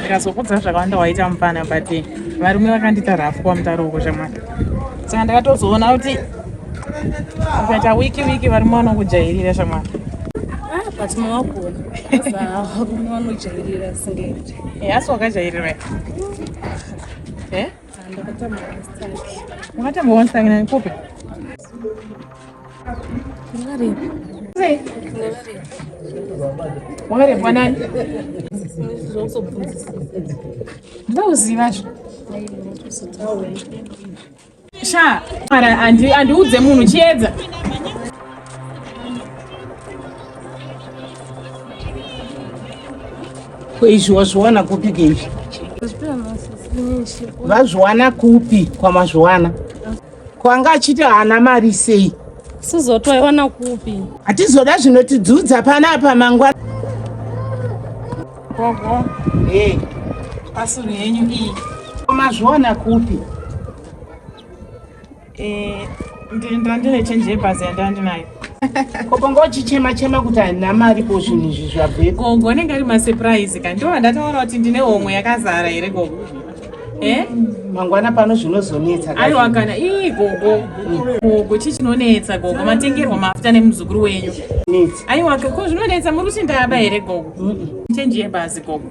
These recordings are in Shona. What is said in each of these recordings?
ndikazokudza zvakawanda waita mupana but eh, varume vakandita rafu kwa mutaro uko shamwari saka ndakatozoona kuti ukaita wiki wiki varume vanokujairira shamwari ah, but mawagona varume vanojairira singeti eh, asi wakajairira eh? Wakatamba one sang nani kope? Ngari. Sei? Ngari. Wakare kwa nani? Zvoso bvunzisa. Ndauziva zvo. Sha, mara andi andiudze munhu chiedza. Ko izvi wazviwana kupi ke izvi? Vazviwana kupi kwamazviwana? Ko anga achiti haana mari sei? Sizoto waiwana kupi? Hatizoda zvinotidzudza panapa mangwana. Gogo. Eh. Pasuru yenyu iyi. Ko mazviwana kupi? Eh, ndiri ndandine chenje yebhazi yandava ndinayo koko ngochichema chema kuti handina mari ko zvinhu izvi zvabvepo gogo anenge ari masurprise ka ndiwo vandataura kuti ndine homwe yakazara here gogo e eh? mangwana pano zvinozonetsa aiwa kana ii gogo gogo chii chinonetsa gogo matengerwa mafuta nemuzukuru wenyu aiwa ko zvinonetsa muri kuti ndaba here gogo chenji yebhazi gogo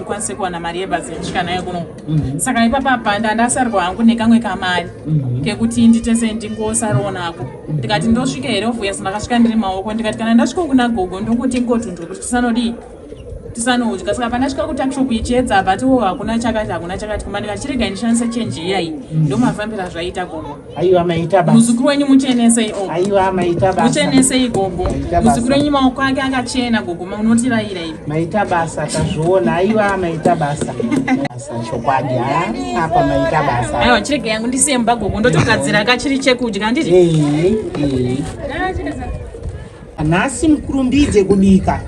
kwanise kuwana mari yebhazi kusvika nayo kuno mhm. saka ipapa panda ndasarwa hangu nekamwe kamari mhm. kekuti nditese ndingosariwo nako mhm. ndikati ndosvika here ovuya sindakasvika ndiri maoko ndikati kana ndasvika kuna gogo ndokuti ngotundwa kuti tisanodii tisanodya saka pandasvika kutakshop ichiedza but wo hakuna chakati hakuna chakati kuma ndikachirega ndishandise chenji iyayi ndomafambira zvaiita gogo Aiwa maita baba. Muzukuru wenyu muchenesei ogo. Aiwa maita basa. Muchenesei gogo. Muzukuru wenyu maoko ake akachena gogo maunotiraira ivi. Maita basa tazviona. Aiwa maita basa. Basa chokwadi ha apa maita basa. Aiwa chirege yangu ndisemba gogo ndotogadzira kachiri chekudya ndiri. Eh eh. Nhasi mukurumbidze kubika.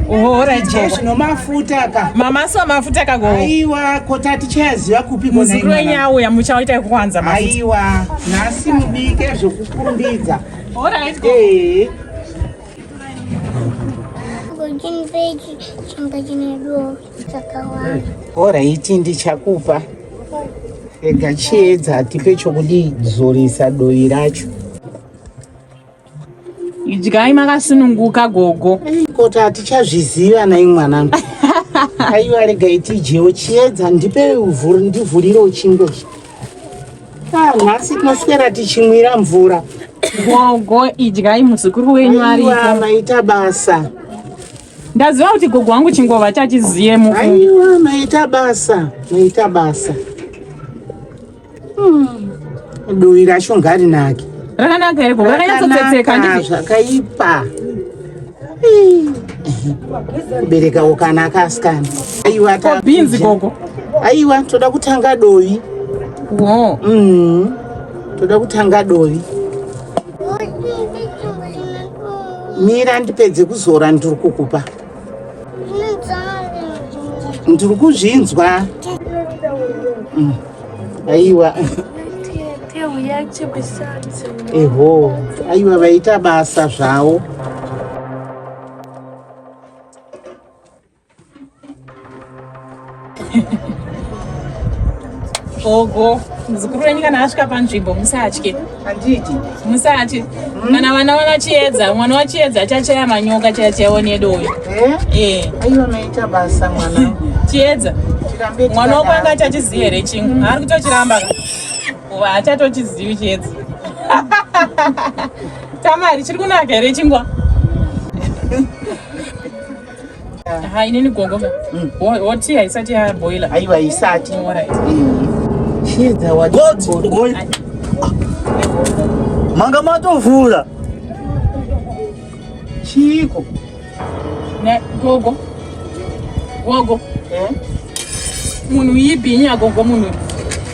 Ohora je zvino mafuta ka. Mama so mafuta ka go. Aiwa ko tati chaziva kupi kona. Muzukuru wenyu auya muchaita kuwanza mafuta. Aiwa nhasi mubike zvokukurumbidza. Ohora it go. Eh. Gojin veji chimba chine do chakawanda. Ohora iti ndichakupa. Rega chiedza tipe chokudii zorisa doi racho. idyai makasununguka gogo koti hatichazviziva nai mwanangu aiwa rega itijewo chiedza ndipe ndivhurire uchingo ah, nhasi tinoswera tichimwira mvura gogo idyai muzukuru wenyu ariiwa maita basa ndaziva kuti gogo wangu chingova chachiziyemu aiwa maita basa maita basa Hmm. Dovi racho ngarinake. Rakanaka here ko? Rakanyatsopfeka ndizvo. Zvakaipa. Kubereka ukanaka asikana. Aiwa ta. Bhinzi koko. Aiwa toda kutanga dovi. Wo. Mhm. Toda kutanga dovi. Mira ndipedze kuzora ndiri kukupa. ndiri kuzvinzwa mm. aiwa eho aiwa vaita basa zvawo gogo muzukuru wenyu kana asvika panzvimbo musatye handiti musatye hmm? kana vana vana chiedza mwana wachiedza chachaya manyoka chaya chayaoni yedu uyu eh? eh. basa mwana chiedza mwana wako anga achachizivi here chingu hmm. haari kutochiramba kuva achatochizivi chiedza tamari chiri kunaka here chingwa hainini gogo mm. hoti haisati yaboila aiwa isati manga matovhura chiiko gogo gogo eh? munhu yipi nyagogo munhu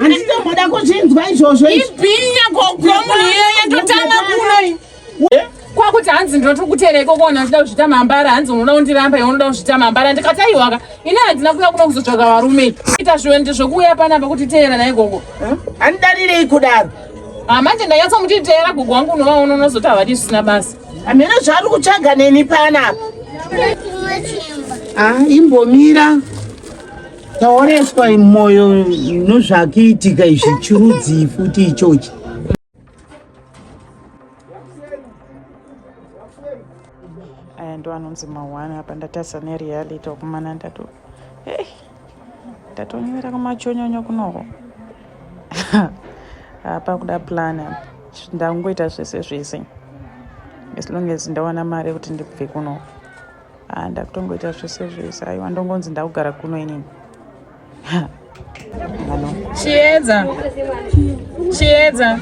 handitomboda kuzvinzwa izvozvo ibhinya kogwa munhu iye yatotama kuno eh? kwakuti hanzi ndinoto kutera ikoko ona ndida kuzvita mambara hanzi unoda kundiramba iwe unoda kuzvita mambara ndikati aiwaka ini handina kuuya kuno kuzotsvaga varume ita zviwende zvokuuya panapa kuti teera na ikoko eh? handidarirei kudaro ah, manje ndanyatsa muti teera gogo wangu unova uno unozoti havadi zvisina basa hamene zvaari kutsvaga neni panapa ah, imbomira taoneswa moyo nozvakiitika izvi chirudzii futi ichochi aya ndo anonzi mahwani apa ndatasa nereality wakumana ndato hey, ndatonyera kumachonyonyo kunoko apa kuda plan apa ndangoita zvese zvese as long as ndawana mari yekuti ndibve kunoko ah, ndakutongoita zvese zvese aiwa ndongonzi ndakugara kuno inini chiedza chiedza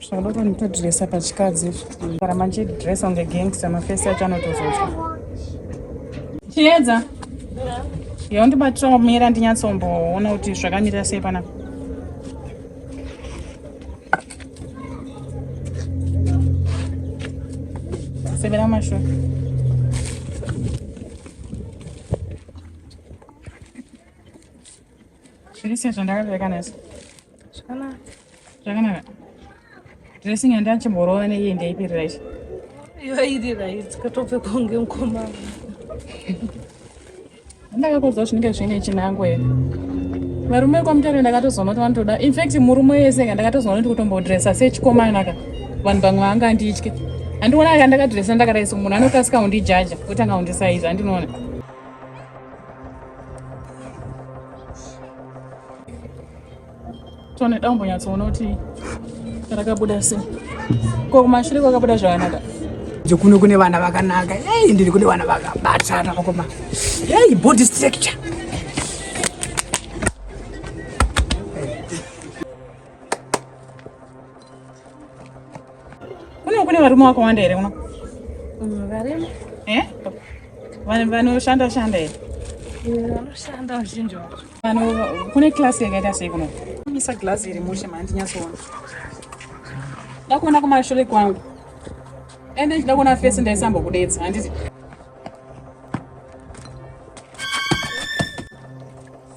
Zvauda kunotodresa pachikadzi kana manje dress on the gangster mafesi acho anotozozwa. Chiedza. Yo ndibatira kumira ndinyatsomboona kuti zvakamira sei panapa. Severa mashure. Zviri sei zvandakavekanesa? Zvakanaka. Zvakanaka. Dressing yandanga ndichimborova neiyi ndeipi right? Iyo iri right. Katopfeka kunge mukomana. Ndakakuudza zvinenge zvine chinangwa here? Varume kwamutare ndakatozoona kuti vanotoda. In fact murume wese ka ndakatozoona kuti kutombodressa sechikomana ka. Vanhu vamwe vanga anditye. Andiona ka ndakadressa ndakadai so munhu anokasika kundijaja otanga kundisaiza andinoona. tone daumbonyatsoona kuti rakabuda sei ko kumashure kwakabuda zvakanaka dzekuno kune vana vakanaka ei ndiri kune vana vakabatana vakoma ei body structure Kuno kune varume wakawanda here kuno? Mm, varimo. Eh? Vanhu vanoshanda shanda here? Mm, vanoshanda vazhinji vacho. Vanhu kune class yakaita sei kuno? Misa glass iri mushe manje nyatsoona. Ndakuona kumashure kwangu. Ende ndida kuona face ndaisamba kudetsa handiti?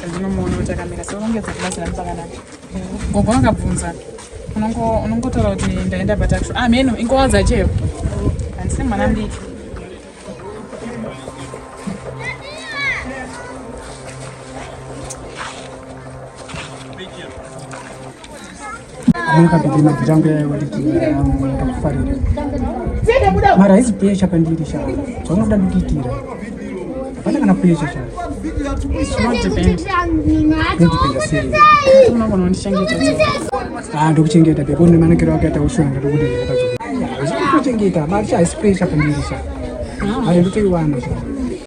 sezvinomuona kuti akamira so unongedza kubatsira mupakanaka gogo vakabvunza unongotaura kuti ndaenda patakisho ah mheno ingowa dzacheyo handisi mwana mdiki mara haizi pesha pandiri shaa zvaunoda kukiitira hapana kana pesha shaa ndokuchengeta pia kune manakiro akaita ushonga ndokuti ndakazvikuchengeta mari shaa haisi pesha pandiri shaa ayo ndotoiwana shaa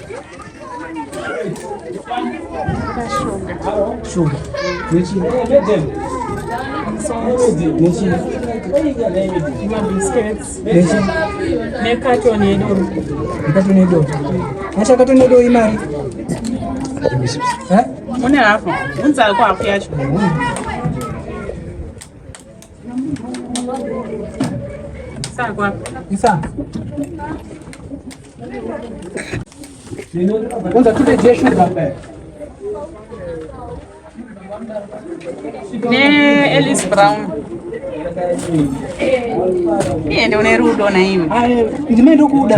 Sugar. Which is nekatoni yedoro nekatoni yedoro acha katoni yedoro imari une hafu unzako hafu yacho Ne Ellis Brown. Niende une rudo na imi. Ndimene ndokuda.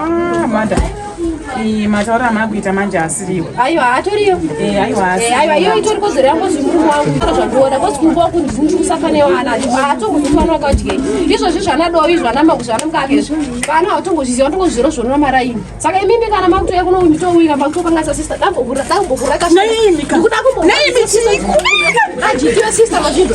Ah, manda iyi mataura amana kuita manje asiriwo aiwa haatoriyo eh, aiwa eh, aiwa iyo itori kodzero yangu zvimurume wangu aa zvandiona kozi kumba waku ndini ndikusafane wana haatongozvifana wakadyei izvozvi zvanadovi zvanamau zvanamka ake izvi vana hautongozviziva watongozviro zvonona maraini saka imimi kana makutouya kuno mitouira makutokanganisa sista dambokura dambokura kasikuda kumboajiiwe sista mazvinhu